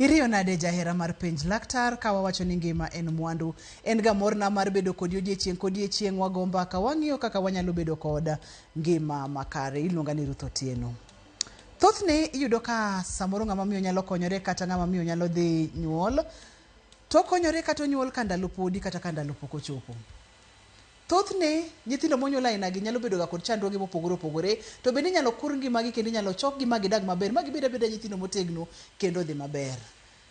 Iriyo nade jahera mar penj laktar ka wawacho ni ngima en mwandu. En ga morna mar bedo kodi odiechieng' kodiechieng' wago mbaka wang'iyo kaka wanyalo bedo kod ngima makare iluonga ni ruth otieno thothne iyudo ka samoro ng'ama miyo nyalo konyore kata ng'ama miyo nyalo dhi nyuol to okonyore kata onyuol ka ndalo podi kata ka ndalo pok ochopo thothne nyithindo monyuol ainagi nyalo bedoga kod chandruoge mopogore opogore to bende inyalo kur ngimagi kendo inyalo chokgi ma gidag maber ma gibed abeda nyithindo motegno kendo dhi maber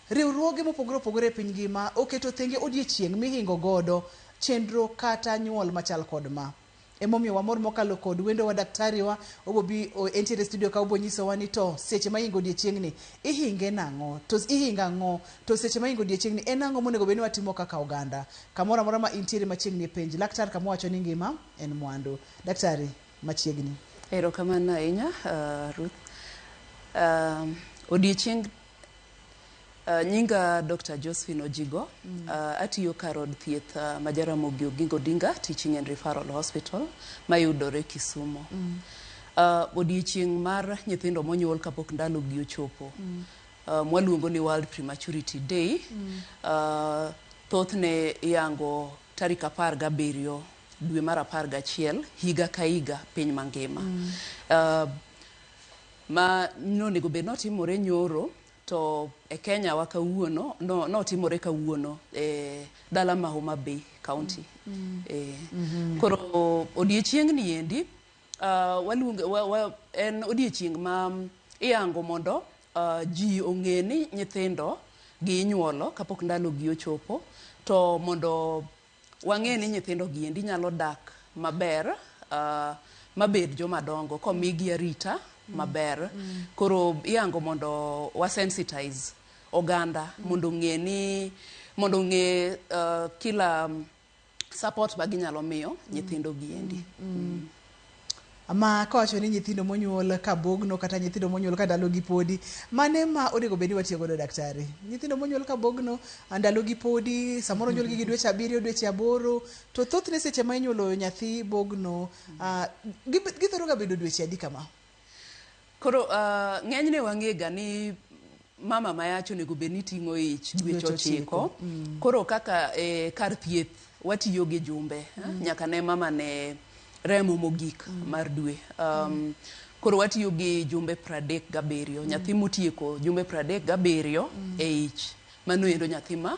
riwruoge mopogore opogore e piny ngima oketo thenge odiechieng' mihingo godo chenro kata nyuol machal kod ma Emomiyo wamor mokalo kod wendowa daktari wa obobi entiere studio ka obonyisowa ni to seche ma ingo odiechiengni ihinge nang'o to ihingo ang'o to seche ma ingo odiechiengni en ang'o monego bed ni watimo kaka oganda kamoro amora ma intiere machiegni e penj laktar kama owacho ni ngima en mwandu daktari machiegni. Erokamano ahinya Ruth. Odiechieng Uh, nyinga Dr. Josephine Ojigo. Mm. Uh, atiyo kar od thieth uh, ma Jaramogi Oginga Odinga Teaching and Referral Hospital mayudore Kisumo. Mm. Uh, odiechieng' mar nyithindo monyuol kapok ndalogi ochopo. Mm. Uh, mwaluongo ni World Prematurity Day. Mm. Uh, thothne iyango tarik apar gabiriyo dwe mar apar gachiel higa ka higa piny mangima. Mm. Uh, Ma nonego bed notimore nyoro to e Kenya wa kawuono no, notimore kawuono e dala ma Homa Bay County. E, koro odiechiengni endi uh, waluonge, wa, wa, en odiechieng' ma iyango mondo uh, ji ong'e ni nyithindo gi inyuolo kapok ndalogi ochopo to mondo Wang'eyo ni nyithindo gi endi nyalo dak maber mabed joma dongo komigi arita maber. Koro ihango mondo wa sensitize oganda mondo ong'e ni mondo ong'e kila support ma ginyalo miyo nyithindo gi endi. Ma kawacho ni nyithindo monyuol ka bogno kata nyithindo monyuol ka ndalogi podi, mane ma onego bed ni watiyo godo daktari? Nyithindo monyuol ka bogno, ndalogi podi, samoro onyuolgi gi dweche abiriyo, dweche aboro, to thothne seche ma inyuolo nyathi bogno, ah, gi- githoro ga bedo dweche adi kama? Koro ng'enyne wang'ega ni mama mayach onego bed ni ting'o ich dweche ochiko. Koro kaka e kar thieth watiyo gi jumbe nyaka ne mama ne remo mogik mar dwe. Koro watiyo gi jumbe pradek gabiriyo. Nyathi motieko jumbe pradek gabiriyo e ich mano endo nyathi ma.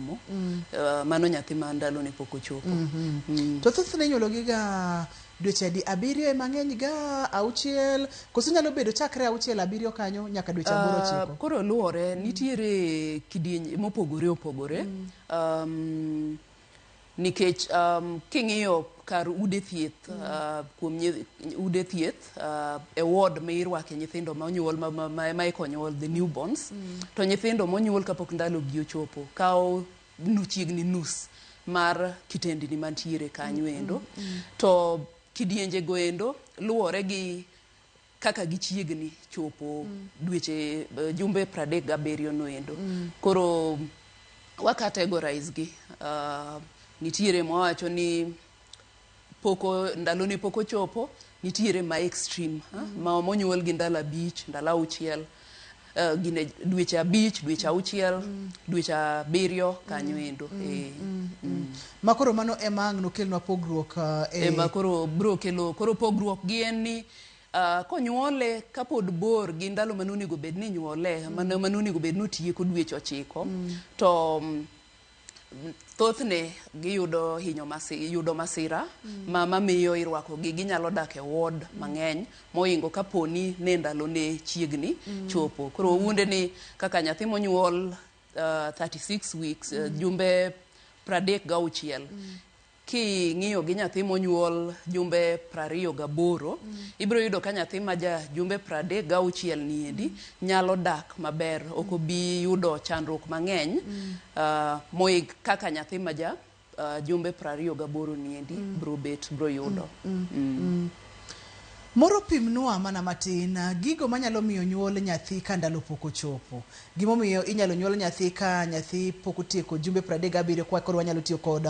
somo, eh, mano nyathi ma ndalone pok ochopo. Mm. To thothne inyuologiga dweche adi? Abiriyo ema ng'eny ga, auchiel, koso nyalo bedo chakre auchiel abiriyo kanyo nyaka dweche aboro Ah, ochiko. koro luwore nitiere kidieny mopogore opogore um, nikech um, king'iyo kar ude thieth ah, kuom nyi- ude thieth e ward ma irwake nyithindo ma onyuol ma, ma, ma, ma eka onyuol the newborns mm. to nyithindo monyuol kapok ndalogi ochopo kawo nu chiegni nus mar kitendini mantiere kanyo mm, endo mm, mm. to kidienje go endo luwore gi kaka gichiegni chopo mm. dweche uh, jumbe pradek gabiriyo no endo mm. koro wakategorize gi uh, nitiere mwawacho ni pok o- ndalone pok ochopo nitiere ma extreme ha? ma monyuol gi ndalo abich ndalo auchiel eh, gine dweche abich dweche auchiel dweche abiriyo kanyo endo eh. ma koro mano ema ang' nokelnwa pogruok ah, e- ema koro bro kelo koro pogruok gi en ni ah, konyuole kapod bor gi ndalo mane onego bed ni nyuole mane mane onego bed ni otieko dweche ochiko to mm, Thothne giyudo hinyo masira, yudo masira mm. ma mamiyo irwakogi. Ginyalo dak e ward mm. mang'eny moingo kaponi ne ndalone chiegni mm. chopo. Koro mm. wunde ni kaka nyathi monyuol uh, 36 weeks uh, mm. uh, jumbe pradek gauchiel mm. King'iyo gi nyathi monyuol jumbe prariyo gaboro, ibiro yudo ka nyathi ma ja jumbe pradek gauchiel ni endi nyalo dak maber. Ok obi yudo chandruok mang'eny mohingo kaka nyathi ma ja jumbe prariyo gaboro ni endi biro bet biro yudo. Moro pimnwa mana matin gigo manyalo miyo nyuol nyathi ka ndalo pok ochopo. Gimomiyo inyalo nyuol nyathi ka nyathi pok otieko jumbe pradek gabiriyo kwa koro wanyalo tiyo kod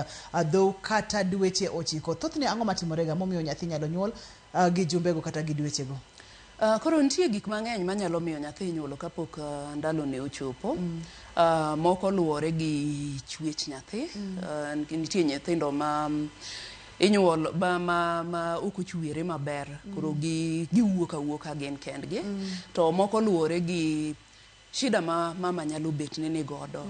dhou kata dweche ochiko. Thothne ang'o matimorega momiyo nyathi inyalo nyuol gi jumbego kata gi dwechego? Koro nitie gik mang'eny manyalo miyo nyathi inyuolo kapok ndalone ochopo. Moko luwore gi chwech nyathi, nitie nyithindo ma inyuolo ma ok ochwere maber koro giwuok awuoka gin kendgi. To moko luwore gi shida ma mama nyalo bet ni nigodo,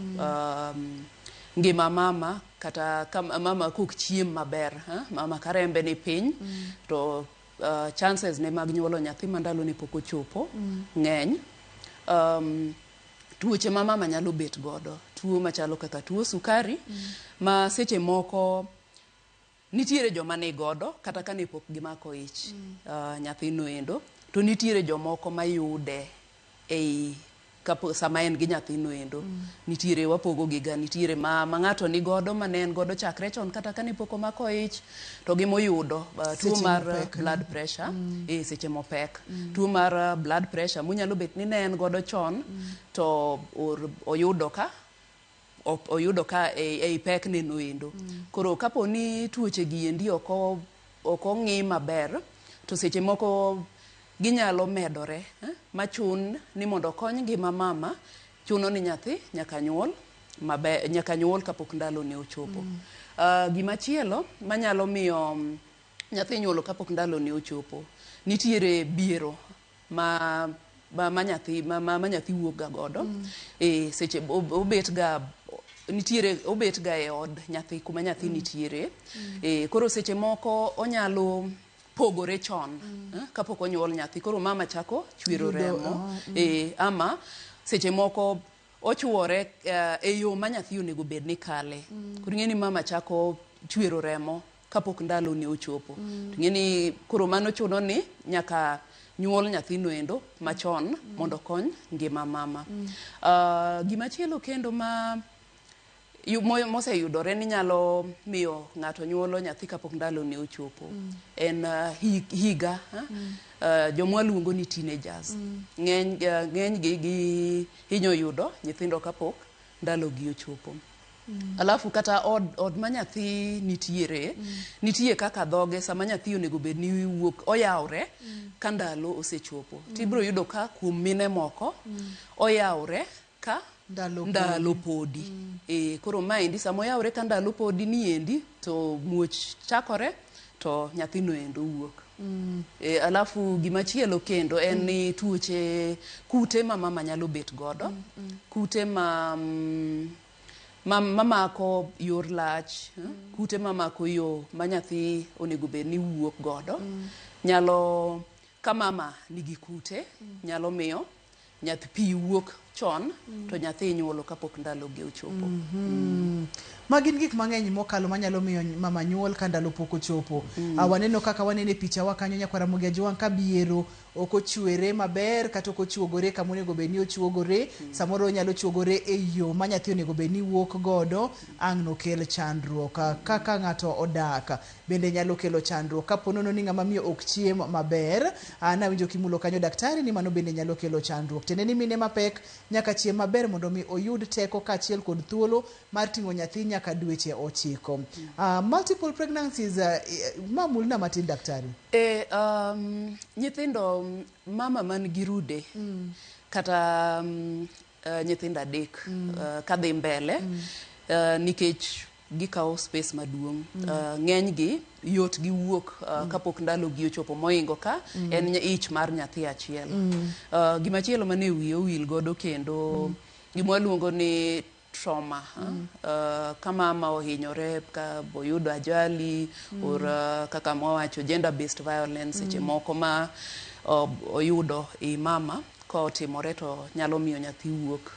ngima mama kata mama kok chiem maber, mama ka rembe ni piny to. chances ne mag nyuolo nyathi ma ndalone pok ochopo ng'eny. Um, tuoche ma mama nyalo bet godo, tuo machalo kaka tuo sukari ma seche moko nitiere joma ni godo kata kane pok gimako ich ah, nyathino endo to nitiere jomoko mayude ei kapo sama en gi nyathino endo. Nitiere wapogogiga, nitiere ma, ma ng'ato ni godo ma ne en godo chakre chon kata kane pok omako ich, to gi moyudo uh, tuo Seche mar mopek, no? blood pressure e seche mopek. Tuo mar uh, blood pressure monyalo bet ni ne en godo chon to or, oyudo ka oyudo ka ei pek ne noendo. Koro kapo ni tuoche gi endi ok ok ong'i maber to seche moko ginyalo medore machun ni mondo okony ngima mama chuno ni nyathi nyaka nyuol maber nyaka nyuol kapok ndalo ne ochopo. Gima chielo manyalo miyo nyathi nyuolo kapok ndalo ne ochopo nitiere biero ma ma, ma nyathi ma, ma, ma nyathi wuok ga godo e seche ob- obet ga nitiere obet ga e od nyathi kuma nyathi nitiere e, koro seche moko onyalo pogore chon eh, kapok onyuol nyathi koro mama chako chwero Yudo, remo oh, e, ama seche moko ochuore eh, e yo ma nyathi onego bed ni kale koro ing'e ni mama chako chwero remo kapok ndalone ochopo. To ing'e ni koro mano chuno ni nyaka nyuol nyathino endo machon mondo okony ngima mama. Ah, gimachielo kendo ma yu- mo- moseyudore ni nyalo miyo ng'ato nyuolo nyathi kapok ndalone ochopo en ah, hi- higa ah, ah, jomwa luongo ni teenagers ng'eny ah, ng'enygi gihinyo yudo nyithindo kapok ndalogi ochopo. Mm. Alafu kata od, od ma nyathi nitiere mm. nitie kaka dhoge sama nyathi onego bed ni wuok oyawre mm. ka ndalo osechopo mm. tibiro yudo ka kuom mine moko mm. oyawre ka ndalo, ndalo podi mm. e, koro maendi sama oyawre ka ndalo podi niendi to muoch chakore to nyathino endo wuok Mm. E, alafu gima chielo kendo en ni mm. tuoche kute ma mama nyalo bet godo mm, mm. kute ma mm, Ma, mamako yor lach, eh, kute mamako yo ma nyathi onego bed ni wuok godo, nyalo ka mama nigi kute, nyalo miyo nyathi pi wuok chon to nyathi inyuolo kapok ndalogi ochopo. Ma gin gik mang'eny mokalo manyalo miyo ny- mama nyuol ka ndalo pok ochopo. Ah, waneno kaka waneno e pichawa kanyo nyakwar Ramogi Ajwang' ka biero ok ochwere maber kata ok ochuogore kama onego bed ni ochuogore samoro onyalo chuogore e yo ma nyathi onego bed ni wuok godo ang' nokel chandruok Ah, kaka ng'ato odak bende nyalo kelo chandruok kapo nono ni ng'ama miyo ok chiem maber Ah, nawinjo kimulo kanyo daktari ni mano bende nyalo kelo chandruok tiende ni mine mapek nyaka chiem maber mondo mi oyud teko kaachiel kod thuolo mar ting'o nyathi nyaka dweche ochiko. Uh, multiple pregnancies, uh, eh, ma mulna matin daktari. E, um, nyithindo um, mama man gi rude mm. kata um, uh, nyithindo adek mm. uh, kadhi mbele mm. uh, nikech gikawo space maduong' mm. uh, ng'enygi yot gi wuok uh, mm. kapok ndalogi ochopo moingo ka mm. en ich mar nyathi achiel mm. uh, gimachielo mane wiye owil godo kendo mm. gima waluongo ni trauma kama ma ohinyore ka boyudo ajali or kaka mwawacho gender based violence seche moko ma oyudo i mama kotimore to nyalo miyo nyathi wuok.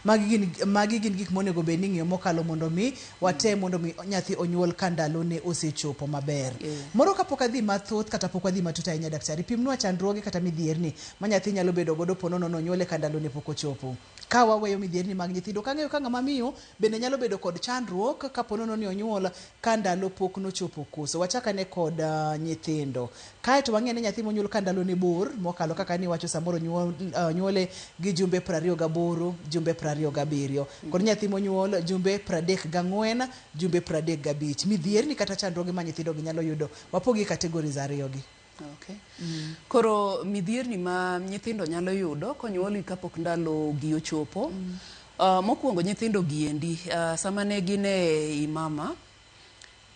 Magi gin magi gin gik monego bed ni ing'eyo mokalo mondo mi watem mondo mi nyathi onyuol ka ndalone osechopo maber. Moro kapok adhi mathoth kata pok wadhi matut ahinya daktari, pimnwa chandruoge kata midhierni ma nyathi nyalo bedo godo po nono nonyuole ka ndalone pok ochopo. Ka waweyo midhierni mag nyithindo, ok ang'eyo ka ng'ama miyo bende nyalo bedo kod chandruok ka po nono ni onyuol ka ndalo pok nochopo koso. Wachak ane kod nyithindo. Kae to wang'i ane nyathi monyuol ka ndalone bor mokalo kaka niwacho samoro onyuole gi jumbe prariyo gaboro, jumbe prariyo gabiriyo, kod nyathi monyuol jumbe pradek gang'wen, jumbe pradek gabich. Midhierni kata chandruoge ma nyithindogi nyalo yudo, wapogi e categories ariyogi. Ok. Koro midhierni ma nyithindo nyalo yudo konyuolgi kapok ndalogi ochopo. Ah, mokwongo nyithindo gi endi ah, sama ne gin e i mama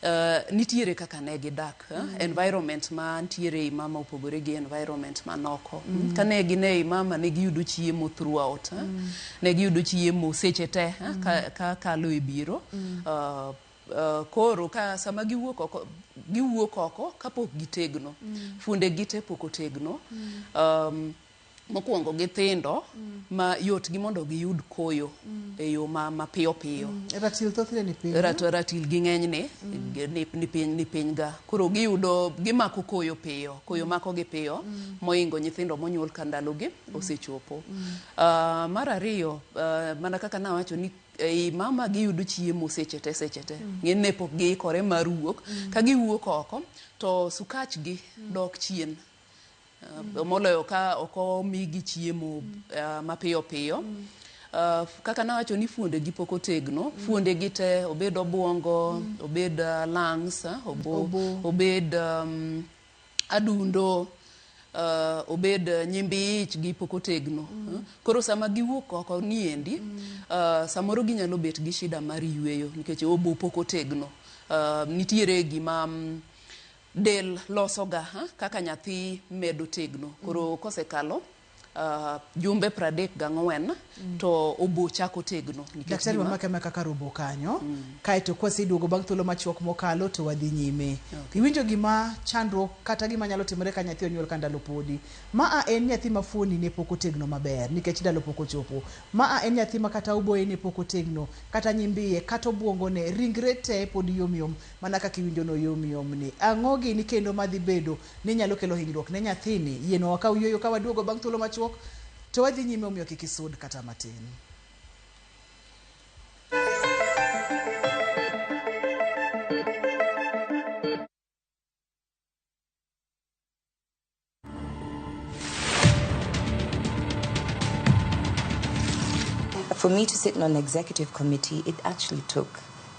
ah, nitiere kaka ne gidak ah, environment ma ntiere i mama opogore gi environment man oko. Mm. Kane gin e i mama ne giyudo chiemo throughout. ah. Ne giyudo chiemo seche te ah, ka, ka kalo e biro. Ah, Koro ka sama giwuok oko, giwuok oko kapok gitegno. Fuonde gi te pok otegno. Um, mokwongo githindo ma yot gi mondo giyud koyo e yo ma mapiyo piyo. Ratil thothne ni piny. Rat, ratil gi ng'enyne ni, ni piny ni piny ga. Koro giyudo gimako koyo piyo, koyo mako gi piyo moingo nyithindo monyuol ka ndalogi osechopo. Ah, mar ariyo, ah, mana kaka nawacho ni ei mama giyudo chiemo seche te seche te mm. ng'eny ne pok giikore mar wuok mm. ka giwuok oko to sukachgi mm. dok chien uh, moloyo ka ok omigi chiemo uh, mapiyo piyo mm. Uh, kaka nawacho ni fuonde gi poko tegno mm. fuonde gi te obed obwongo mm. obed uh, lungs uh, obo, obo. obed um, adundo, uh, obed uh, nyimbi ich gi pok otegno. Mm. Koro sama giwuok oko ni endi, mm. uh, samoro ginyalo bet gi shida mar yueyo nikech obo pok otegno. Uh, nitiere gima um, del losoga ha? kaka nyathi medo tegno. Koro mm. kosekalo uh, jumbe pradek gang'wen mm. to obo chako tegno daktari wamake ma kaka robo kanyo mm. kaeto kwaseduogo bang' thuolo machuok mokalo to wadhi nyime okay. iwinjo gima chandruok kata gima nyalo timore ka nyathi onyuol ka ndalo podi ma a en nyathi ma fuoni ne pok otegno maber nikech ndalo pok ochopo ma a en nyathi ma kata oboye ne pok otegno kata nyimbiye kata obwongone ringre te pod yomyom mana kaka iwinjo no yomyom ni ang'o gini kendo madhi bedo ni nyalo kelo hinyruok ne nyathini, yienwa wakaw yueyo ka waduogo bang' thuolo machuok to wadhi nyime omiyo kik isud kata matin. For me to sit on an executive committee, it actually took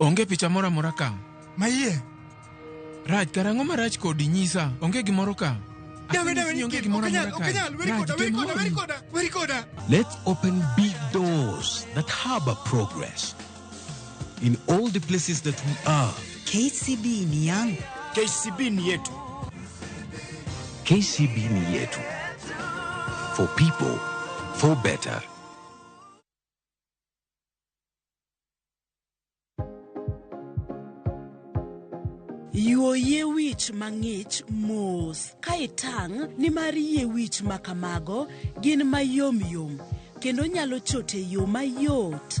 Onge picha moro amora ka. Maiye. Raj, karang'o marach kodi nyisa? Onge gimoro ka. Dawe, dawe, Asini onge gimoro amora ka. okanyal, weri Raj, koda, weri koda, weri koda, weri koda. Let's open big doors that harbor progress. in all the places that we are. KCB ni yangu. KCB ni yetu. KCB ni yetu. For people, for better. Yuo yie wich mang'ich mos ka itang' nimar yie wich ma kamago gin mayom yom kendo nyalo chote yo mayot.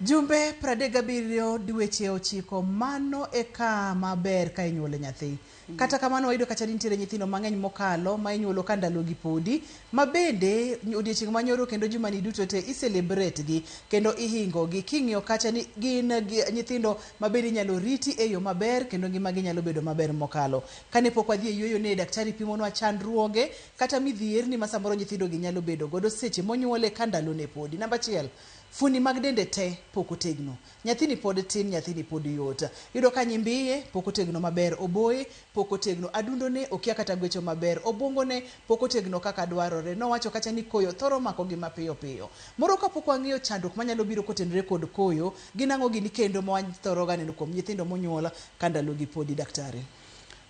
Jumbe 37 dweche ochiko mano e ka maber ka inyuolo nyathi. Kata kamano wayudo ka chadi nitiere nyithindo mang'eny mokalo ma inyuolo ka ndalogi podi ma bende odiechieng' ma nyoro kendo jumani duto te i celebrate gi kendo ihingogi king'iyo kacha ni gin gi- nyithindo ma bende inyalo riti e yo maber kendo ngimagi nyalo bedo maber mokalo. Kane pok wadhi e yueyo ne daktari pimonwa chandruoge kata midhierni ma samoro nyithindo gi nyalo bedo godo seche monyuole ka ndalone podi. Namba achiel, fuoni mag dende te pok otegno. Nyathini pod tin, nyathini pod yot. Iyudo ka nyimbiye pok otegno maber, oboye pok otegno, adundone okia kata gwecho maber, obwongone pok otegno kaka dwarore. Nowacho kacha ni koyo thoro makogi mapiyo piyo. Moro kapok wang'eyo chandruok manyalo biro kotenore kod koyo, Gin ang'o gini kendo ma wathoro ga neno kuom nyithindo monyuol ka ndalogi podi daktari?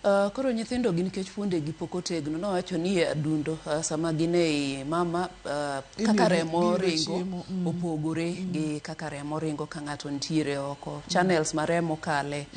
Uh, koro nyithindo gi nikech fuondegi pok otegno nowacho ni e adundo uh, sama gin ei mama uh, kaka Imiyo- remo imiyo ringo chiemo, mm. opogore gi kaka remo ringo ka ng'ato nitiere oko channels ma remo kale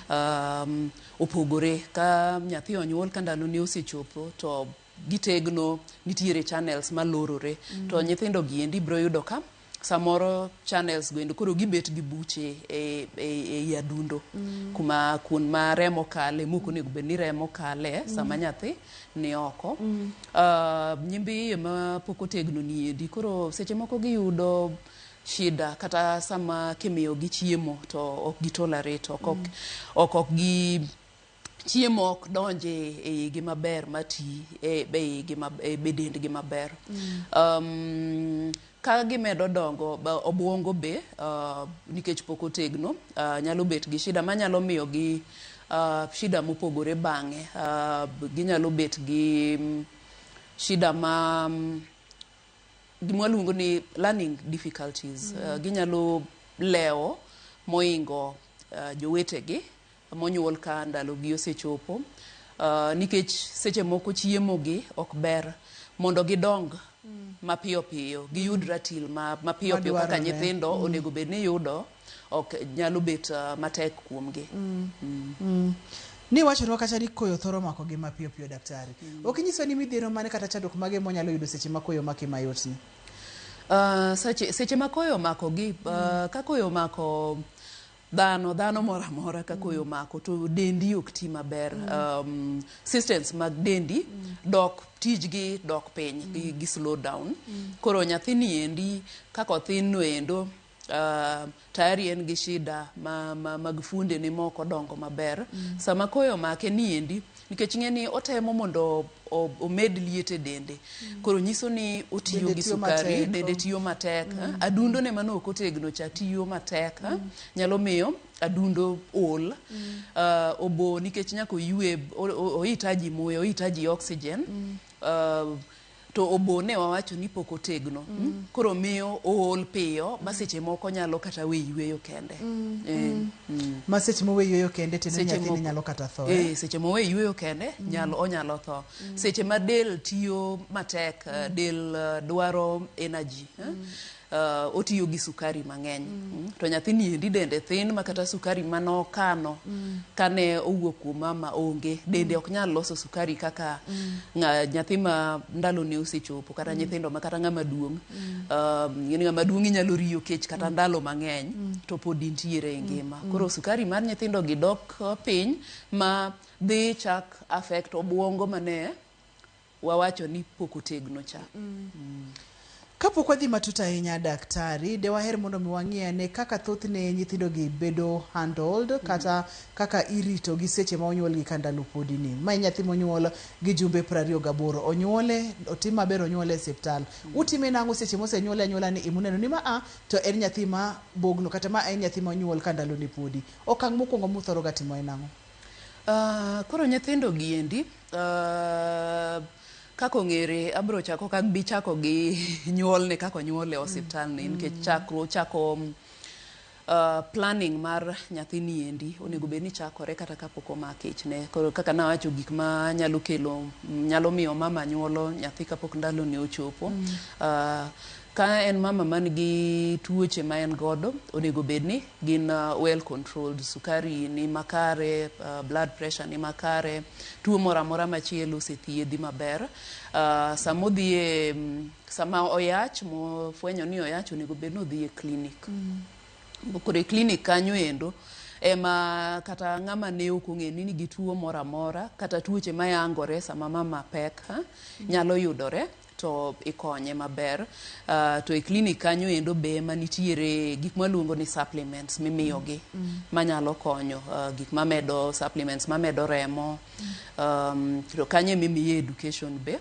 um, opogore ka nyathi onyuol ka ndalone osechopo to gitegno nitiere channels malorore mm. to nyithindo gi endi biro yudo ka samoro channels go endo koro gibet gi buche e, e, e yadundo mm. kuma kun ma remo kale moko nego bed ni remo kale mm. sama nyathi ni oko mm. uh, nyimbi iye ma pok otegno ni endi koro seche moko giyudo shida kata sama kimiyo gi chiemo to ok gitolerate ok ok mm. ok, ok gi chiemo ok donj e e igi maber ma ti e e igi ma e be dendgi maber. Um, ka gimedo dongo ba- obwongo be uh, nikech pok otegno uh, nyalo bet gi shida manyalo miyo gi uh, shida mopogore bang'e. Uh, b- ginyalo bet gi mm, shida ma mm, gima waluongo ni learning difficulties. Uh, ginyalo lewo moingo uh, jowetegi monyuol ka ndalogi osechopo nikech seche moko chiemogi ok ber mondo gidong mapiyo piyo giyud ratil mapiyo piyo kaka nyithindo onego bed ni yudo ok nyalo bet matek kuomgi. Niwachonwa kacha ni koyo thoro makogi mapiyo piyo daktari. Ok inyiswa ni midhiero mane kata chandruok mage monyalo yudo seche ma koyo omaki mayotni? Seche ma koyo omakogi, ka koyo omako Dhano, dhano moro amora ka koyo omako to dendi ok ti maber. Um, systems mag dendi dok tijgi dok piny gi, gi slow down. Koro nyathini endi kaka othin no endo uh, tayari en gi shida ma, ma, mag fuondene moko dongo maber. Sama koyo omake ni endi Nikech ing'e ni otemo mondo omed liet e dende. Koro nyiso ni otiyo gi sukari, dende tiyo matek. Mm. Adundo ne mano ok otegno cha tiyo matek. Mm. Nyalo miyo adundo ol. Mm. Uh, obo nikech nyako yue, oitaji muya, oitaji oxygen. Mm. Uh, to obo ne wawacho ni pok otegno mm. koro miyo ool piyo mm. ma seche moko nyalo kata we yueyo kende mm. E, mm. Mm. ma seche mowe yueyo kende tiende nyathini nyalo kata tho e, eh? seche mowe yueyo kende mm. nyalo onyalo tho mm. seche ma del tiyo matek eh, mm. del eh, dwaro energy mm. eh? uh, otiyo gi sukari mang'eny mm. Mm. to nyathini endi dende thin ma kata sukari mane okano mm. kane owuok kuom mama onge dende mm. ok nyal loso sukari kaka mm. nyathi ma ndalone osechopo kata mm. nyithindo ma kata ng'ama duong' mm. um, ng'ama duong' inyalo riyo kech kata mm. ndalo mang'eny mm. to pod intiere e mm. ngima mm. koro sukari mar nyithindo gi dok uh, piny ma dhi chak affect obwongo mane wawacho ni pok otegno cha. Kapok wadhi matut ahinya daktari, de waher mondo mi wang'i ane kaka thothne nyithindogi bedo handled kata kaka iritogi seche ma onyuolgi ka ndalo podi ni. Ma en nyathi monyuol gi jumbe prariyo gaboro. Onyuole, otim maber onyuole e siptal. Utime nang'o seche mosenyuole anyuola ni imuneno ni ma a to en nyathi ma bogno kata ma en nyathi monyuol ka ndalone podi. Okang' mokwongo muthoroga timo en ang'o? Ah, koro nyithindogi endi Uh, kaka ong'ere abiro chako ok abi chako gi nyuolne kaka onyuole osiptalni nikech chakruo chako uh, planning mar nyathini endi onego bed ni chakore kata kapok omak ichne koro kaka nawacho gik ma nyalo kelo nyalo miyo mama nyuolo nyathi kapok ndalone ochopo uh, Ka en mama man gi tuoche ma en godo, onego bed ni gin well controlled. Sukari ni makare, blood pressure ni makare, tuo moro amora machielo osethiedhi maber. Sama odhi e, sama oyach, mofwenyo ni oyach, onego bed ni odhi e clinic. Koro e clinic kanyo endo, ema kata ng'ama ne ok ong'eyo ni nigi tuo moro amora, kata tuoche mayangore sama mama pek, nyalo yudore. to ikonye maber to e clinic kanyo endo be ema nitiere gik mwaluongo ni supplements mimiyogi manyalo konyo uh, gik mamedo supplements mamedo remo um, to kanyo emimiye education be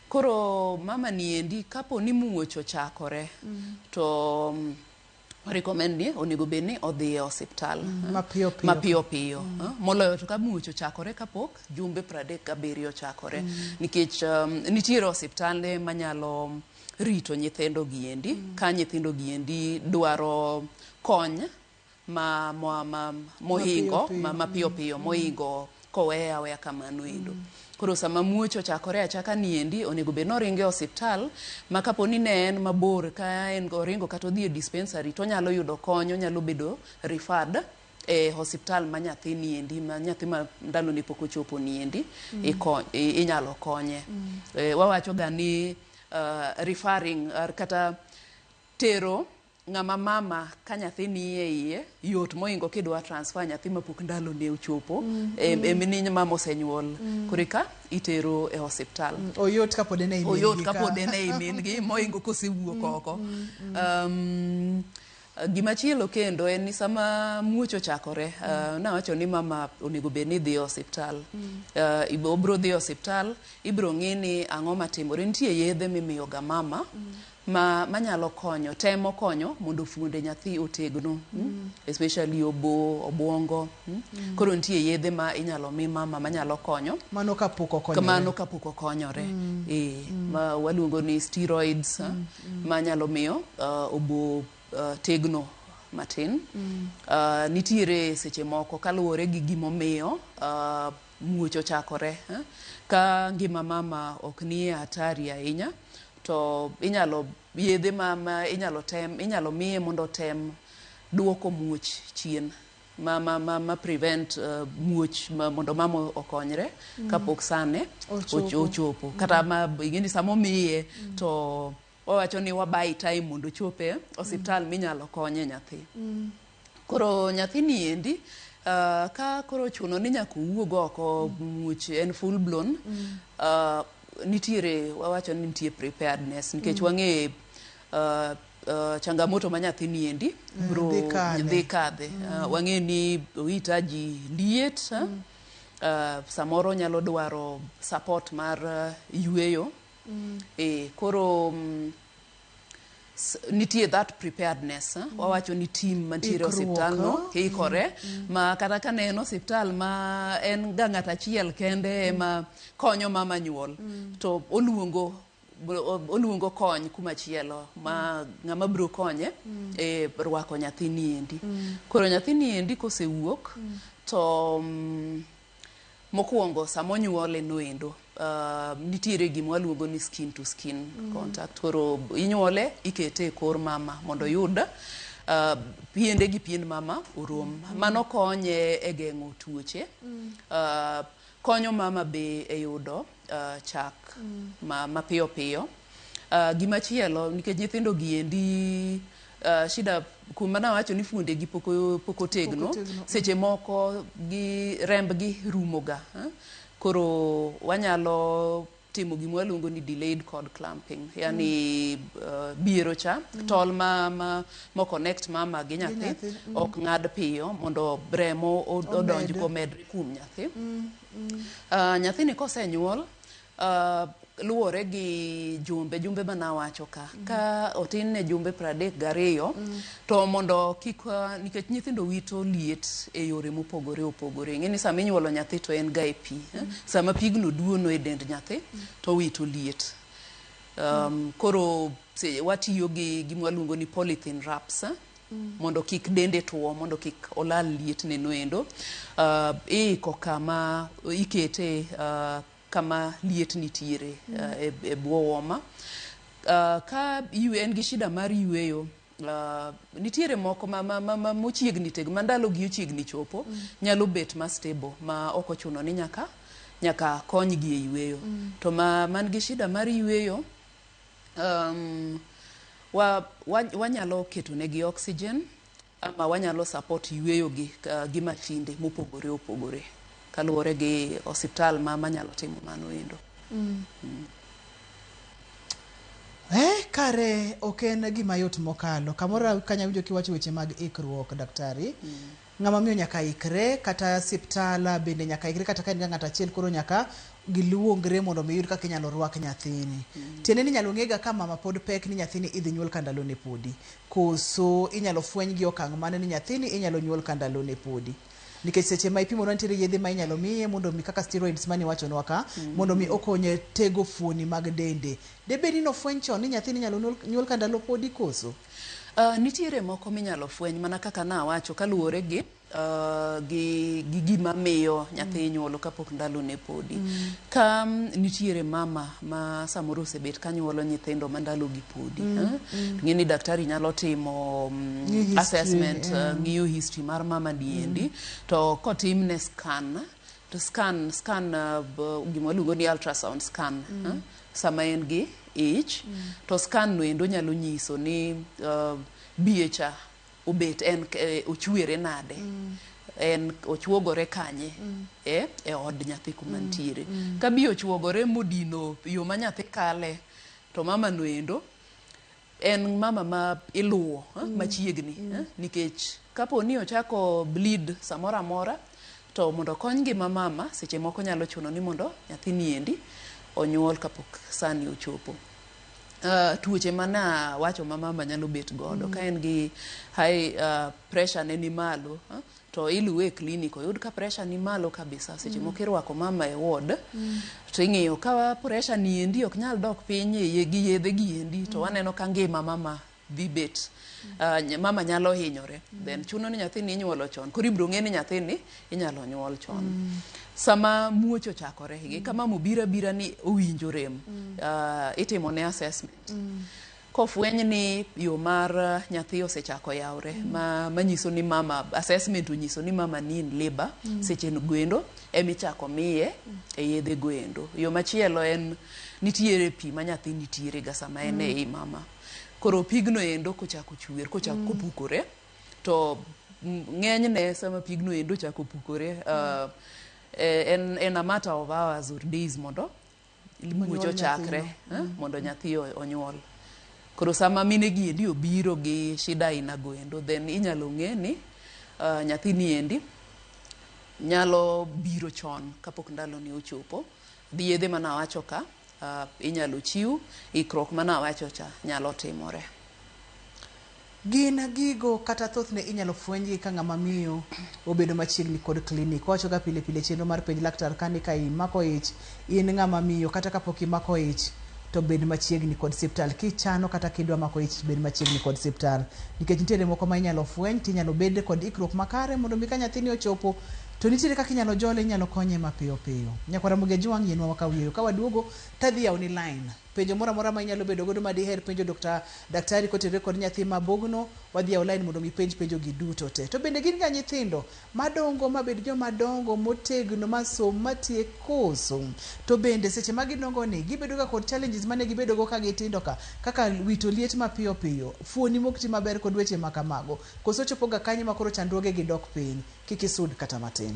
koro mama ni endi kapo ni muoch ochakore to um, O recommend ni onego bed ni odhi e osiptal mm, mapiyo piyo, mapiyo, piyo. Mm. Eh, moloyo to ka muoch ochakore kapok jumbe 37 ochakore mm. nikech um, nitiere osiptande manyalo rito nyithindo giendi mm. ka nyithindo giendi dwaro kony ma mohingo ma mapiyo piyo mohingo koweye aweya kamano endo. Koro sama muoch ochakore achaka ni endi, onego bed ni oringo e osiptal ma kapo ni ne en mabor ka en oringo kata odhi e dispensary to onyalo yudo kony, onyalo bedo referred e osiptal ma nyathi ni endi ma nyathi ma ndalone pok ochopo ni endi ikony, i- inyalo konye. Eh, Wawachoga ni ah, referring ah, kata tero Ng'ama mama ka nyathi nie iye yot mohingo kidwa transfer nyathi mapok ndalone ochopo mm. e, e mini mama osenyuol mm. koreka itero e hospital mm. oyot kapod en e oyot kapod en e min gi mohingo kosewuok mm. oko mm. mm. um, Gima chielo kendo en ni sama muoch ochakore, uh, mm. uh, nawacho ni mama onego bed ni dhi e osiptal. Mm. Uh, obro dhi e osiptal, ibro ng'i ni ang'o matimore. Nitie yedhe mimiyoga mama mm. ma manyalo konyo temo konyo mondo fuonde nyathi otegno mm. especially obo obwongo mm. mm. koro nitie yedhe ma inyalo mi mama manyalo konyo mano kapok okonyore mano kapok okonyore mm. e, mm. ma waluongo ni steroids mm. mm. manyalo miyo uh, obo uh, tegno matin mm. uh, nitiere seche moko kaluwore gi gimomiyo uh, muoch ochakore eh? ka ngima mama ok nie hatari ahinya to inyalo yedhe ma, ma inyalo tem inyalo miye mondo otem duoko muoch chien ma, ma, ma, ma prevent uh, muoch ma, mondo mama okonyre mm. kapok sane ochopo, ochopo. Mm. kata ma ingeni sama omiye mm. to owacho ni wabai time mondo ochope osiptal mm. minyalo konye nyathi mm. Koro nyathini endi uh, ka koro ochuno ni nyaka owuog oko much en full blown mm. uh, nitiere wawacho ni nitie preparedness nikech mm. wang'e uh, uh, changamoto ma nyathini endi mm, bro dhi kadhe mm. uh, wang'e ni ohitaji liet uh, mm. uh, samoro nyalo dwaro support mar uh, yueyo mm. e, koro um, nitie that preparedness mm. wawacho ni tim mantiere osiptal no oh. ikore mm. ma kata ka ne en osiptal ma en ga ng'at achiel kende mm. ma konyo mama nyuol mm. to oluongo oluongo kony kuma chielo ma ng'ama biro konye mm. e rwako nyathini endi mm. koro nyathini endi kosewuok mm. to um, Mokuongo sama onyuole noendo, nitiere gima waluongo ni skin to skin contact. Koro inyuole ikete e kor mama mondo oyud piende gi piend mama orom. Mano konye e geng'o tuoche. Konyo mama be e yudo uh, chak mm. ma, mapiyo piyo uh, gima chielo nikech nyithindo giendi uh, shida kuma nawacho ni fuonde gi poko, poko tegno, poko tegno. seche moko gi rembgi rumoga eh? koro wanyalo timo gima waluongo ni delayed cord clamping yani mm. uh, biero cha mm. tol ma, ma, ma connect mama gi nyathi mm. ok ng'ad piyo mondo remo odonj komedre kuom nyathi mm. Uh, nyathini kosenyuol uh, luwore gi jumbe jumbe mana wacho ka mm. ka otin ne jumbe pradek gariyo mm. to mondo kik uh, nikech nyithindo wito liet e yore mopogore opogore ing'e ni sama inyuolo nyathi to en ga e pi eh? mm. sama pigno duono e dend nyathi mm. to wito liet um, mm. koro watiyo gi gimwaluongo ni polythene wraps eh? mondo kik dende two, mondo kik olal lietne no endo. Uh, iiko kama ikete uh, kama liet nitiere uh, e, e bwo woma. Uh, ka yu- en gi shida mar yueyo Uh, nitiere moko ma, ma, ma, ma mochiegni teg ma ndalogi ochiegni chopo mm. nyalo bet ma stable ma ok ochuno ni nyaka nyaka konygi e yueyo mm. to ma man gi shida mar yueyo um, wa, wa, wanyalo ketonegi oxygen ama wanyalo support yueyogi uh, gi mashinde mopogore opogore kaluwore gi osiptal ma manyalo timo mano endo mm. Mm. Eh, kare ok en gima yot mokalo kamoro kanya winjo kiwacho weche mag ikruok daktari mm. Ng'ama miyo nyaka ikre kata siptal bende nyaka ikre kata ka in ga ng'at achiel koro nyaka giluongre mondo mi yud kaka inyalo rwak nyathini. Tiende ni inyalo ng'ega ka mama pod pek ni nyathini idhi nyuol ka ndalone podi. Koso inyalo fweny gi okang' mane ni nyathini inyalo nyuol ka ndalone podi. Nikech seche ma ipimo nwa nitiere yedhe ma inyalo miye mondo mi kaka steroids mane iwachonwa ka mondo mi okonye tego fuoni mag dende. Debed ni nofweny chon ni nyathini inyalo nyuol ka ndalo podi koso? Uh, nitiere moko minyalo fweny mana kaka nawacho kaluwore gi uh, gi, gi gima miyo nyathi mm. nyuolo kapok ndalo ne podi mm. ka mm, nitiere mama ma samoro osebet ka nyuolo nyithindo ma ndalo gi podi mm. eh? mm. ng'e ni daktari nyalo timo um, assessment eh. ng'iyo uh, yeah. uh, history mar mama niendi mm. to kotimne scan to scan scan uh, b- gima waluongo ni ultrasound scan eh, sama en gi ich to scan no endo nyalo nyiso ni uh, biecha obet en k- eh, ochwere nade en ochuogore kanye eh, e od nyathi kuma ntiere ka bi ochuogore modino yo ma nyathi kale to mama no endo En mama ma iluwo eh, mm. machiegni mm. eh, nikech kapo ni ochako bleed samoro amora to mondo okony ngima mama seche moko nyalo chuno ni mondo nyathini endi onyuol kapok sani ochopo. Uh, tuoche mana wacho ma mama nyalo bet godo mm. ka en gi high uh, pressure ne ni malo uh, to iluwe e clinic oyud ka pressure ni malo kabisa seche moko irwako mama e ward to ing'iyo ka pressure ni endi ok nyal dok piny e ye- gi yedhe gi endi to waneno ka ngima mama dhi bet ah, ny- mama nyalo hinyore then chuno ni nyathini inyuolo chon koro ibiro ng'e ni nyathini inyalo nyuol chon sama muoch ochakore gi kama mobira bira ni owinjo rem ah, itimone assessment Kofweny ni yo mar nyathi osechako yawre ma manyiso ni mama assessment onyiso ni mama ni in labor seche goendo ema ichako miye e yedhe goendo. Yo machielo en nitiere pi ma nyathi nitiere ga sama en e i mama. Koro pigno endo kochako chwer kochako kopukore to ng'enyne sama pigno endo ochako pukore uh, en, en a matter of hours or days mondo muoch ochakre eh, mondo nyathi o- onyuol koro sama mine gi endi obiro gi shida aina goendo then inyalo ng'e ni uh, nyathi ni endi nyalo biro chon kapok ndalone ochopo gi yedhe ma nawacho ka uh, inyalo chiw ikruok ma nawacho cha nyalo timore Gin gigo kata thothne inyalo fwenygi ka ng'ama miyo obedo machiegni kod klinik. Wawachoga pile pile chenro mar penj laktar kani ka imako ich, in ng'ama miyo kata kapok imako ich to bed machiegni kod siptal. Kichano kata kidwa mako ich bed machiegni kod siptal. Nikech nitiere moko ma inyalo fweny tinyalo bed kod ikruok makare mondo mi ka nyathini ochopo to nitiere kaka inyalo jole, inyalo konye mapiyo piyo. Nyakwar Ramogi Ajwang' yienwa wakaw yueyo. Ka waduogo tadhi yawoni line. Penjo moro amora ma inyalo bedo godo ma diher penjo Dokta, daktari kotenore kod nyathi ma bogno, wadhi e online mondo mi ipenj penjo gi duto te. To bende gin ga nyithindo ma dongo ma bed joma dongo motegno ma som ma tiek koso? To bende seche ma gidongo ni gibedo ga kod challenges mane gibedo go ka gitindo ka kaka wito liet ma piyo piyo, fuoni mok ti maber kod weche ma kamago? Koso ochopo ga kanyo ma koro chandruoge gi dok piny? Kik isud kata matin.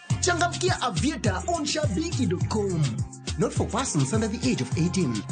Changamkia Aviator on shabiki.com. Not for persons under the age of 18.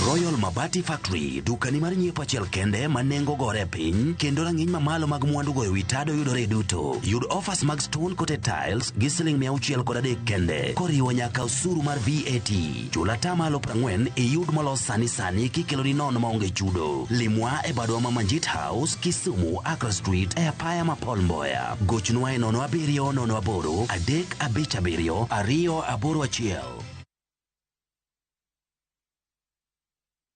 Royal Mabati Factory dukani mar nyiepo achiel kende ma nengo gore piny kendo rang'iny mamalo mag mwandugo e wi tado yudore e duto. Yud offers mag stone coated tiles gi siling mia auchiel kod adek kende koriwo nyaka osuru mar VAT. Chul ata malo prang'wen iyud molos sani sani kikeloni nono maonge chudo. Limwa e badwa ma Manjit House, Kisumu, Accra Street, e apaya ma Paul Mboya. Gochnwa e nono abiriyo nono aboro adek abich abiriyo ariyo aboro achiel.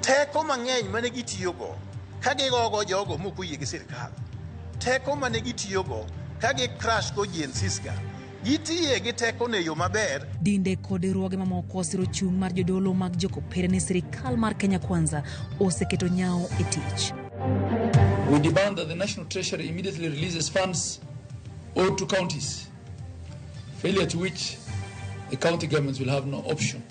teko mang'eny mane gitiyogo ka gigogo jogo mok oyie gi sirkal teko mane gitiyogo ka gi crash go GNCs-ga gitiye gi teko no e yo maber Dinde kod riwruoge mamoko osiro chung' mar jodolo mag jokopere ni sirikal mar Kenya Kwanza oseketo nyawo e tich. We demand that the National Treasury immediately releases funds owed to counties failure to which the county governments will have no option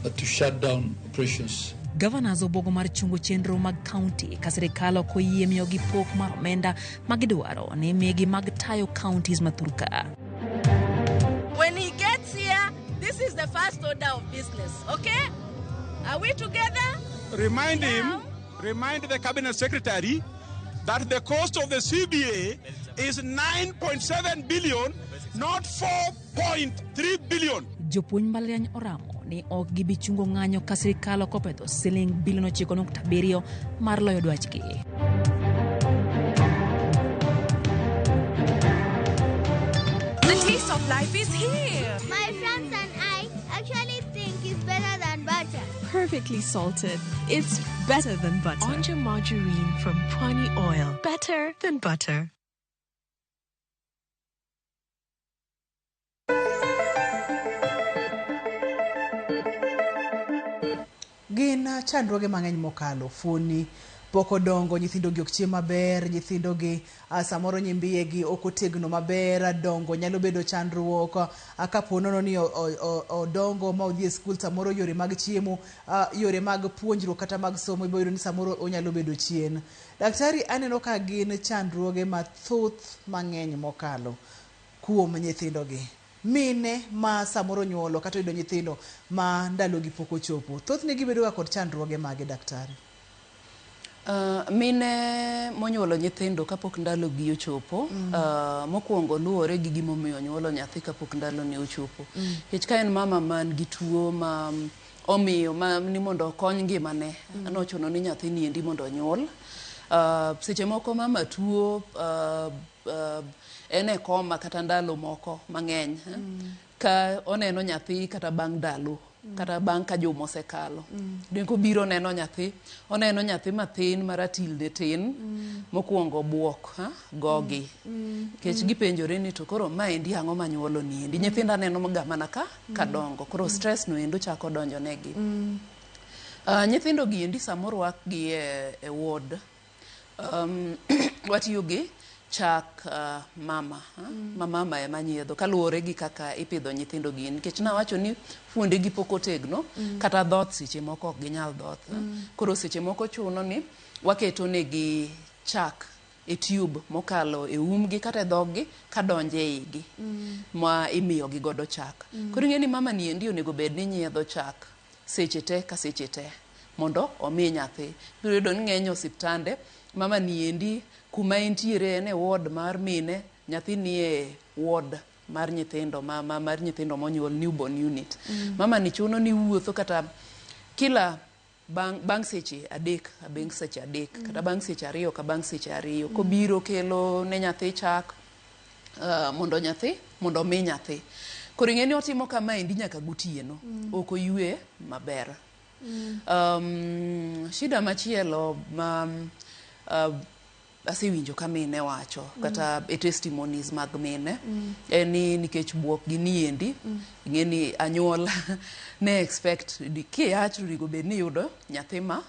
but to shut down operations. Governors obogo mar chungo chenro mag county ka sirikal ok oyie miyogi pok mar omenda ma gidwaro ni migi mag tayo counties ma thurka. When he gets here, this is the first order of business, okay? Are we together? Remind him Remind the cabinet secretary that the cost of the CBA is 9.7 billion, not 4.3 billion. Jopuonj mbalariany oramo ni ok gibi chungo ng'anyo ka sirkal ok opedho siling bilion ochiko nukta abiriyo mar loyo dwachgi. The taste of life is here. My friends and I actually think it's better than butter. Perfectly salted. It's better than butter. Onja margarine from Pwani Oil. Better than butter. gin chandruoge mang'eny mokalo fuoni pok odongo nyithindogi ok chiem maber nyithindogi A Samoro nyimbiyegi ok otegno maber, dongo nyalo bedo chandruok. A Ka po nono ni odongo ma odhi e skul, samoro yore mag chiemo, yore mag puonjruok kata mag somo ibiro yudo ni samoro onyalo bedo chien. Daktari, aneno ka gin chandruoge mathoth mang'eny mokalo kuom nyithindogi. Mine ma samoro onyuolo kata oyudo nyithindo ma ndalogi pok ochopo, thothne gibedoga kod chandruoge mage daktari? Mine monyuolo nyithindo kapok ndalogi ochopo, mokwongo luwore gi gimomiyo onyuolo nyathi kapok ndalone ochopo. Nikech ka en mama man gi tuo ma omiyo ma ni mondo okony ngimane, nochuno ni nyathini endi mondo onyuol. Seche moko mama tuo, en e koma kata ndalo moko mang'eny, ka oneno nyathi kata bang' ndalo. kata bang' ka juma osekalo dwe kobiro oneno nyathi oneno nyathi mathin maratil ne tin mokwongo bwok ha, gogi nikech gipenjore ni to koro ma endi ang'o manyuolo ni endi nyithindo anenoga mana ka kadongo koro stress no endo chako donjonegi Ah, nyithindo gi endi samorwakgi e, e ward Um, watiyo gi chak uh, mama ha? ma mama ema nyiedho kaluwore gi kaka ipidho nyithindo gi nikech nawacho ni fuondegi pok otegno kata dhoth seche moko ok ginyal dhoth ha? koro seche moko chuno ni waketo negi chak e tube mokalo e umgi kata e dhoggi kadonje e igi ma imiyogi godo chak koro ing'e ni mama ni endi onego bed ni nyiedho chak seche te ka seche te mondo omi nyathi. Ibiro yudo ni ng'eny osiptande mama ni endi kuma entiere en e ward mar mine, nyathi nie ward mar nyithindo ma, ma, mar nyithindo monyuol newborn unit. Mm. Mama ni chuno ni wuotho kata kila bang' bang' seche adek abeng' seche adek mm. kata bang' seche ariyo ka bang' seche ariyo mm. kobiro kelo ne nyathi chak uh, mondo nyathi mondo omi nyathi koro ing'e ni otimo kamaendi nyaka gotieno mm. ok oywe maber mm. um, shida machielo ma um, uh, asewinjo ka mine wacho mm. kata e testimonies mag mine mm. en ni nikech buok gi niendi mm. ing'e ni anyuola ne expect ki achrigo bed ni yudo nyathi ma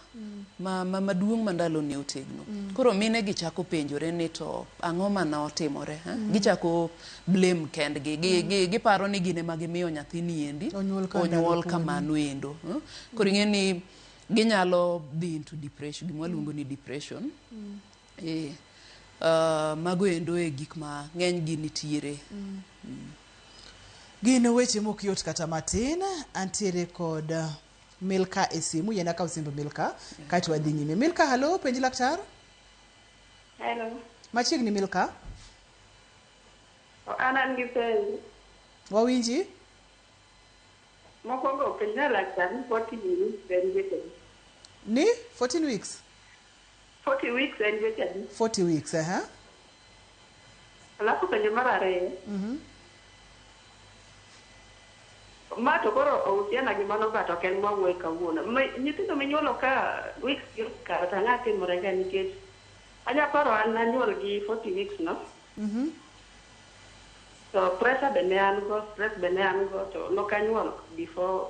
ma, ma maduong' ma ndalone otegno. Koro mine gi chako penjore ni to ang'o ma notimore? ha? Gichako blame kendgi. Gi, gi, giparo ni gin ema gimiyo nyathini endi Onyuol ka ndalo onyuol podi. kamano endo. ha? Koro ing'e ni ginyalo dhi into depression, gima waluongo ni depression. Eh, ah, mago endo e gik ma ng'enygi nitiere. Gin weche mok yot kata matin. Antiere kod Milka e simu, yena kaw simb Milka kaeto wadhi nyime. Milka, halo, penj laktar. Hello. Machiegni Milka. O, An an gi penjo. Wawinji. Mokwongo penjna laktar ni 14 weeks en giko. Ni 14 weeks. Forty weeks en dweche adi? Forty weeks, ehe. Alafu penjo mar ariyo. Ma to koro ohusiana gi mano but ok en mwawuoye kawuono. Mi- Nyithindo minyuolo ka weeks gi osekalo to ang'a timore ga nikech anya paro an nanyuol gi forty weeks no. To pressure be ne an go, stress be ne an go to nokanyuol before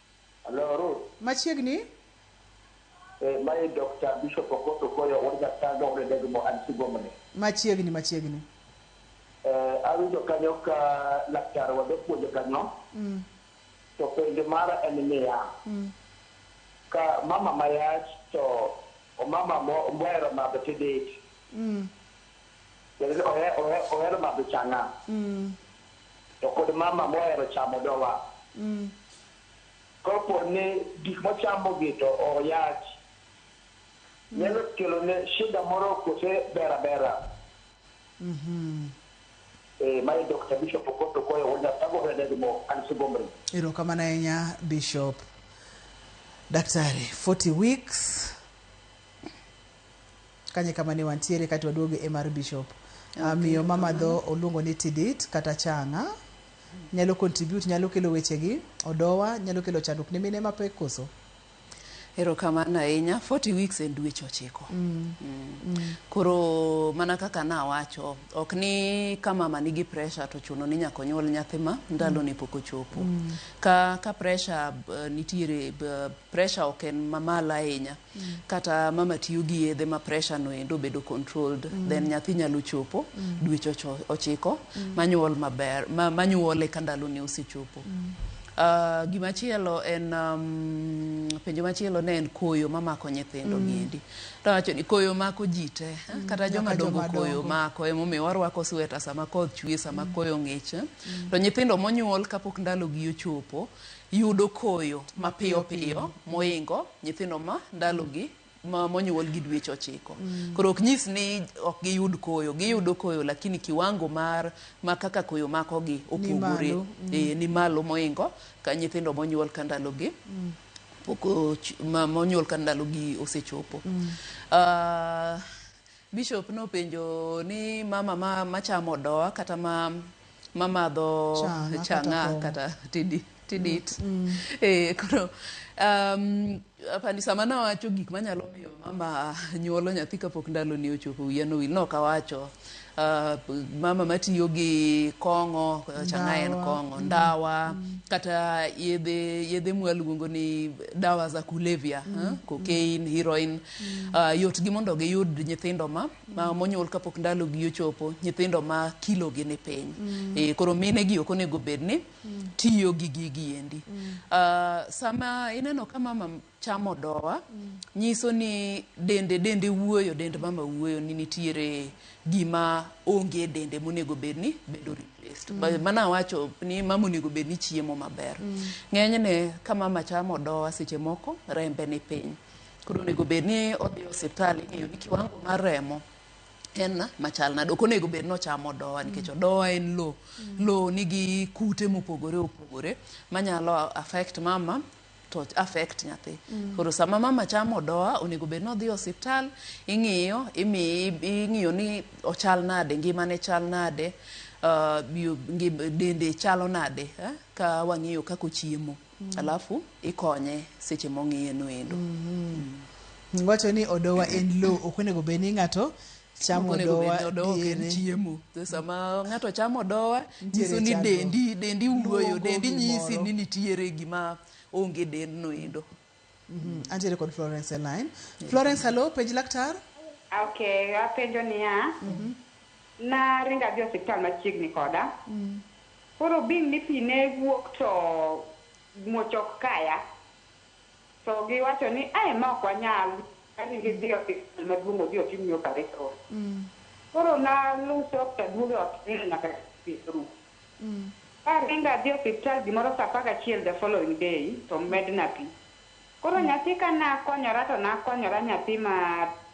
Hello Ruth. Machiegni. Eh, mae Dokta Bishop Okoth Okoyo wuod Nyasago wuod Odegmo an Sigomoni. Machiegni machiegni. Eh, awinjo kanyo ka laktar wa japuonj kanyo. Mm. To penjo mara en niya, Mm. ka mama mayach to omama mo- mohero madho tidit, Mm. Jadolo ohero madho chang'a, to kod mama mohero chamo odowa. Kopo ni gik mochamogi to oyach, nyalo kelone shida moro kose ber abera? Ee, ma e Dokta Bishop Okoth Okoyo wuod Nyasago Red Edmo, an Sugomri. Erokamano ahinya Bishop. Daktari, 40 weeks. Kanye kama ne wantiere kae to waduogo e mar bishop. Ah, Okay, miyo mamadho kamano. oluongo ni tidit kata changa nyalo contribute nyalo kelo wechegi odowa nyalo kelo chandruok ne mine mapek koso Erokamano ahinya. 40 weeks en dweche ochiko. Mm. Koro mana kaka nawacho, ok ni ka mama nigi pressure to chuno ni nyaka onyuol nyathi ma ndalone pok ochopo. Ka, ka pressure eh, nitiere eh, Pressure ok en mamalo ahinya kata mama tiyo gi yedhe ma pressure no endo obedo controlled then nyathi nyalo chopo dweche ocho- ochiko manyuol maber ma- manyuole ka ndalone osechopo. Ah, gima chielo en um, penjo machielo ne en koyo mamako nyithindo gi endi. To awacho ni koyo mako ji te, eh, kata joma nyaka dongo joma koyo dongo. mako emomiyo warwako sweta sama koth chwe sama koyo ng'ich eh. to nyithindo monyuol kapok ndalogi ochopo yudo koyo mapiyo piyo moingo nyithindo ma ndalogi ma monyuol gi dweche ochiko. Koro ok nyis ni ok giyud koyo, giyudo koyo lakini kiwango mar ma kaka koyo makogi opogore. malo, mm. Eh, ni malo moingo ka nyithindo monyuol ka ndalogi pok och- ma- monyuol ka ndalogi osechopo. Ah, Bishop nopenjo ni mama ma machamo odoa kata ma mamadho Chang'a chang'a kata kata tidi tidit. Eh koro um, apani sama nawacho gik manyalo miyo mama nyuolo nyathi kapok ndaloni ochopo wiya nowil nok awacho ah, mama matiyo gi kong'o chang'a en Ndawa. kong'o ndawa kata yedhe yedhe mwaluongo ni dawa za kulevya eh, cocaine heroin mm. uh, yotgi mondo giyud nyithindo ma, ma mm. monyuol kapok ndalogi ochopo nyithindo ma kilogi ni piny mm. e, koro mine gi ok onego bed ni mm. tiyo gi gigi endi mm. uh, sama ineno ka mama chamo dowa mm. nyiso ni dende dende wuoyo dend mama wuoyo ni nitiere gima onge dende monego bed ni bedo replaced mm. mana wacho ni mama onego bed ni chiemo maber mm. ng'enyne ka mama chamo dowa seche moko rembe ni piny Koro onego bed ni odhi e osiptal ing'eyo ni kiwango mar remo en machal nade. Ok onego bed ni ochamo odowa nikech odowa en lo. Lo nigi kute mopogore opogore manyalo affect mama to affect nyathi. Koro sama mama chamo odowa onego bed ni odhi e osiptal ing'iyo imiye ing'iyo ni ochal nade, ngimane chal nade, ah, bio- ngim- dende chalo nade eh, ka wang'iyo kaka ochiemo. alafu ikonye seche mong'iye no endo Mm. wacho ni odowa en lo ok onego obed ni ng'ato chamo Ok onego odowa bed ni odowa ok en diere. chiemo To sama ng'ato chamo odowa Nitiere nyiso ni chandruok. dendi dendi wuoyo Luongo dendi nyisi gimoro. ni nitiere gima onge dendno endo Mhm, Antiere kod Florence e line. Florence, hello, penj laktar. Okay, apenjo niya, naringo adhi osiptal machiegni koda. Koro being ni pi ne wuok to muoch ok kaya, to giwacho ni ae ma ok wanyal aringo idhi osiptal maduong' odhi otimni operation. Koro naluw soks aduogo e ot nindo nyaka pi orumo. Ka aringo adhi e osiptal gimoro saa apar gachiel the following day to medna pii. Koro nyathi ka nakonyora to nakonyora nyathi ma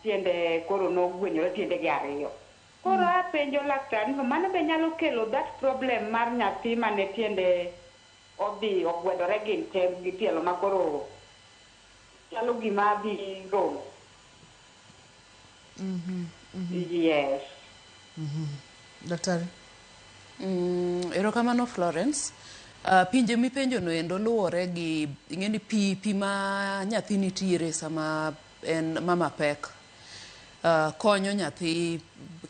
tiende koro nogwenyore tiendege ariyo. Koro apenjo laktar ni to mano be nyalo kelo that problem mar nyathi mane tiende odhi ogwedore gin tee gi tielo makoro chalo gima dhi romo. Mhm, mhm. Yes. Mhm. Daktari. Mm, erokamano Florence. Uh, pinje mipenjo no endo luwore gi ing'eni pi pi ma nyathi nitiere sama en mama pek uh, konyo nyathi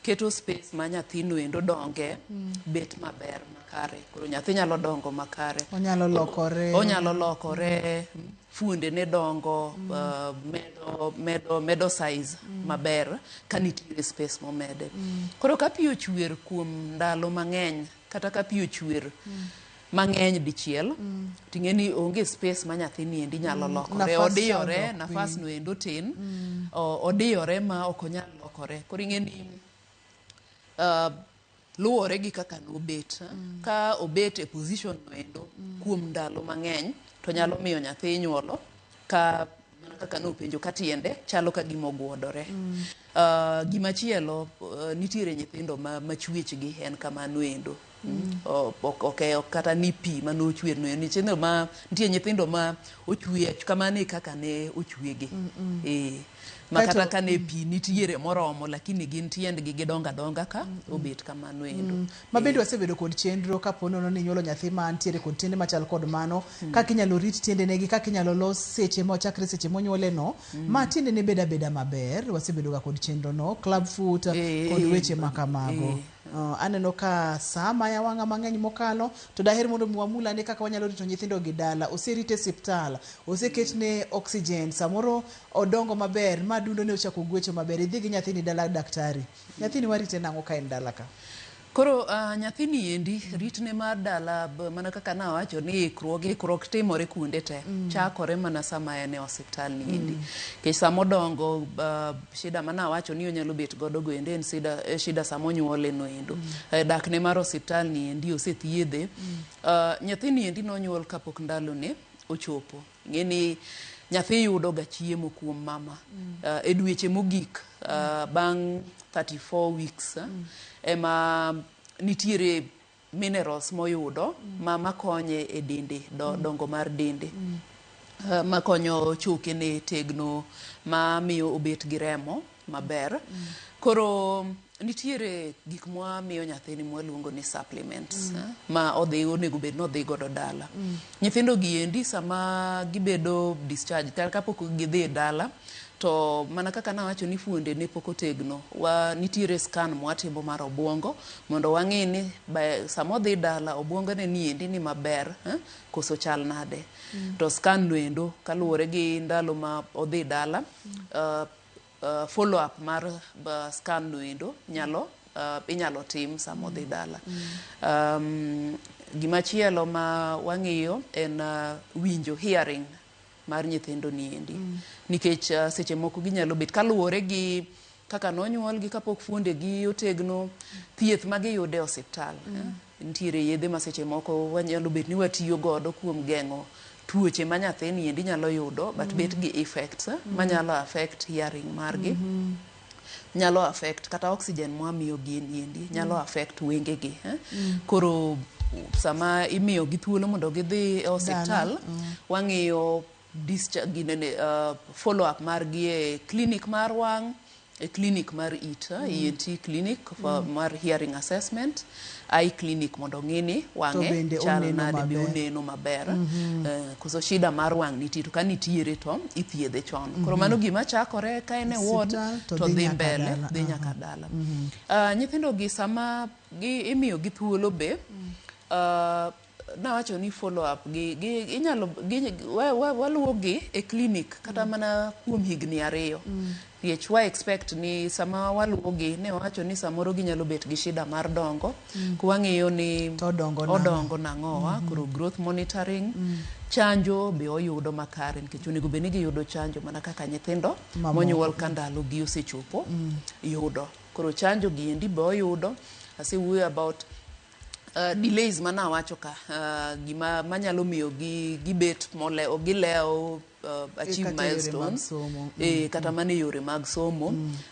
keto space ma nyathino endo donge mm. bet maber makare koro nyathi nyalo dongo makare Onyalo lokore. onyalo lokore fuondene dongo uh, medo, medo, medo size maber ka nitiere space momede koro ka pi ochwer kuom ndalo mang'eny kata ka pi ochwer mang'eny dichiel ting'e ni onge space ma nyathini endi nyalo lokore nafas odiyore chandruok, nafas no endo tin o- odiyore ma ok onyal lokore koro ing'e ni uh, luwore gi kaka nobet mm. ka obet e position no endo mm. kuom ndalo mang'eny to nyalo miyo nyathi inyuolo ka mana kaka nopenjo ka tiende chalo ka gima ogwodore mm. uh, gima chielo uh, nitiere nyithindo ma, ma chwechgi en kamano endo mm. ok e, kata ni pi mane ochwer no nyithindo ma nitie nyithindo ma ochwe kamano e kaka ne ochwegi mm -mm. E. Ma Kaeto- kata kane pi nitiere moromo lakini gin tiendgi gidongo adonga ka obet kamano endo. ma bende wasebedo kod chenro kapo nono ni inyuolo nyathi ma ntiere kod tiende machal kod mano kaka inyalo rit tiendene gi kaka inyalo los seche ma chakre seche monyuoleno ma tiendene bed abeda maber wasebedoga kod chenrono club foot Eh, kod eh, weche ma kamago eh. Uh, aneno ka saa maya wang'a mang'eny mokalo to daher mondo mi wamul ane kaka wanyalo rito nyithindo gi dala oserite e siptal oseketne oxygen samoro odongo maber ma dundo ne ochako gwecho maber idhi gi nyathini dala daktari nyathini warite nang'o ka en dala ka Koro uh, nyathini endi ritne mar dala b- mana kaka nawacho ni ikruok ikruok timore kuonde te chakore mana sama en e osiptal ni endi kech sama odongo uh, Shida mane awacho ni onyalo bet godo go endo en shida, eh, shida sama onyuole no endo. Eh, dakne mar osiptal ni endi osethiedhe. Ah, nyathini endi nonyuol kapok ndalone ochopo. Ng'eni nyathi yudo ga chiemo kuom mama. Ah, e dweche mogik ah, bang' 34 weeks ah, ema nitiere minerals moyudo ma makonye e dende do, mm. dongo mar dende mm. uh, makonyo choke ne tegno ma miyo obet gi remo maber mm. koro nitiere gik mwa miyo nyathini mwaluongo ni supplements mm. eh, ma odhi onego bed ni odhi godo dala mm. nyithindo gi endi sama gibedo discharge kata kapok gidhi e dala To mana kaka nawacho ni fuonde ne pok otegno, wa nitiere scan mwatimo mar obwongo mondo wang'i ni by sama odhi dala obwongo ne ni endi ni maber eh, koso chal nade. Mm. To scan no endo kaluwore gi ndalo ma odhi dala mm. uh, uh, follow up mar uh, scan no endo nyalo uh, inyalo tim sama odhi dala. Mm. Um, gima chielo ma wang'iyo en uh, winjo hearing mar nyithindo ni endi mm. nikech uh, seche moko ginyalo bet kaluwore gi kaka nonyuolgi kapok fuondegi otegno thieth ma giyude e osiptal mm. eh? nitiere yedhe ma seche moko wanyalo bet ni watiyo godo kuom geng'o tuoche ma nyathini endi nyalo yudo but mm. bet gi effects eh? mm. manyalo affect hearing margi mm -hmm. nyalo affect kata oxygen mwa miyo gini endi nyalo mm. affect wenge gi eh? mm. koro sama imiyo gi thuolo mondo gidhi e hospital mm. wang'iyo discharge gine ne uh, follow up mar gi e clinic mar wang e clinic mar it eh? mm. ENT clinic for, mm. mar hearing assessment a e clinic mondo ong'i ni To wang'e bende chal oneno nade be maber. oneno maber eh, koso shida mar wang' nitie to ka nitiere to ithiedhe chon koro mano gima chakore ka en e ward Osiptal to to dhi dhi nyaka mbele dala, dhi aha. nyaka dala Ah, nyithindogi sama gi- imiyogi thuolo be ah, Nawacho ni follow up gi, gi inyalo gi, wa, wa, waluwogi e clinic kata mana kuom higni ariyo nikech wa expect ni sama waluwogi ne wawacho ni samoro ginyalo bet gi shida mar dongo ko wang'iyo ni To odongo nang'o? odongo nang'o wa koro growth monitoring chanjo be oyudo makare nikech onego bed ni giyudo chanjo mana kaka nyithindo Mamoko. monyuol ka ndalogi osechopo yudo koro chanjo gi endi be oyudo asewuoyo about uh, delays mana wacho ka uh, gima manyalo miyo gi gibet mole gilewo uh, achieve kata e yore mag milestones somo. eh, kata mana e yore mag somo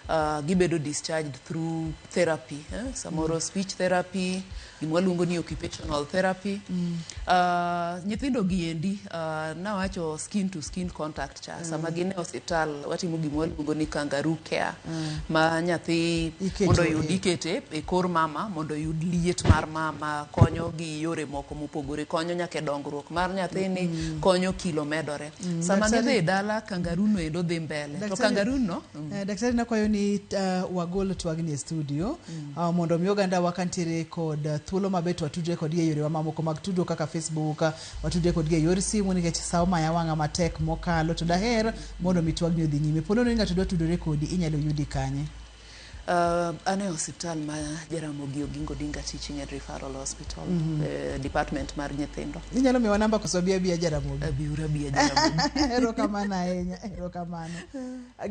uh, gibedo discharged through therapy eh? samoro speech therapy gima waluongo ni occupational therapy uh, nyithindo gi endi uh, nawacho skin to skin contact cha sama gin e hospital watimo gima waluongo ni kangaroo care ma nyathi Iketo mondo e- oyud ikete e kor mama mondo oyud liet mar mama konyo gi yore moko mopogore konyo nyaka e dongruok mar nyathini konyo kilo medore sama Daktari- gidhi e dala kangaroo no endo dhi mbele to Daktari- kangaroo no Eh, daktari nakwayo ni uh, wagol twagni e studio uh, mondo mi oganda wakantiere kod uh, thuolo maber to watudre kod e yorewa mamoko mag tudruok kaka facebook uh, Watude kodgi e yor simu nikech sa omaya wang'a matek mokalo to daher mondo mi twagni odhi nyime. Po nono ni ng'ato dwa tudore kodi, inyalo yudi kanye? Uh, an e osiptal ma Jaramogi Oginga Odinga Teaching and Referral Hospital mm -hmm. eh, department mar nyithindo. Inyalo miwa namba koso abia abia Jaramogi? Abiura abia Jaramogi. Erokamano ahinya, erokamano.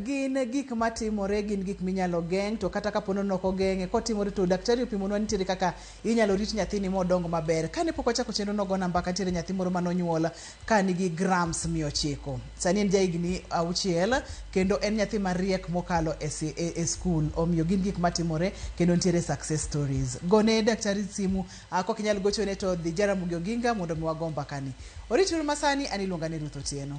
Gin gik matimore, gin gik minyalo geng' to kata kapono noko geng'e kotimore to daktari opimonwa nitiere kaka Inyalo rit nyathini modong maber. Kane pok wachako chenro nogona mbaka nitiere nyathi moro mane onyuol ka nigi grams mia ochiko. Sani en jahigni auchiel kendo en nyathi mariek mokalo e skul. Omiyo gin gik matimore kendo nitiere success stories. Gone daktari simu, ka ok inyal gochone to dhi Jaramogi Oginga mondo mi wago mbakani. Orituru masani, an iluonga ni Ruth Otieno.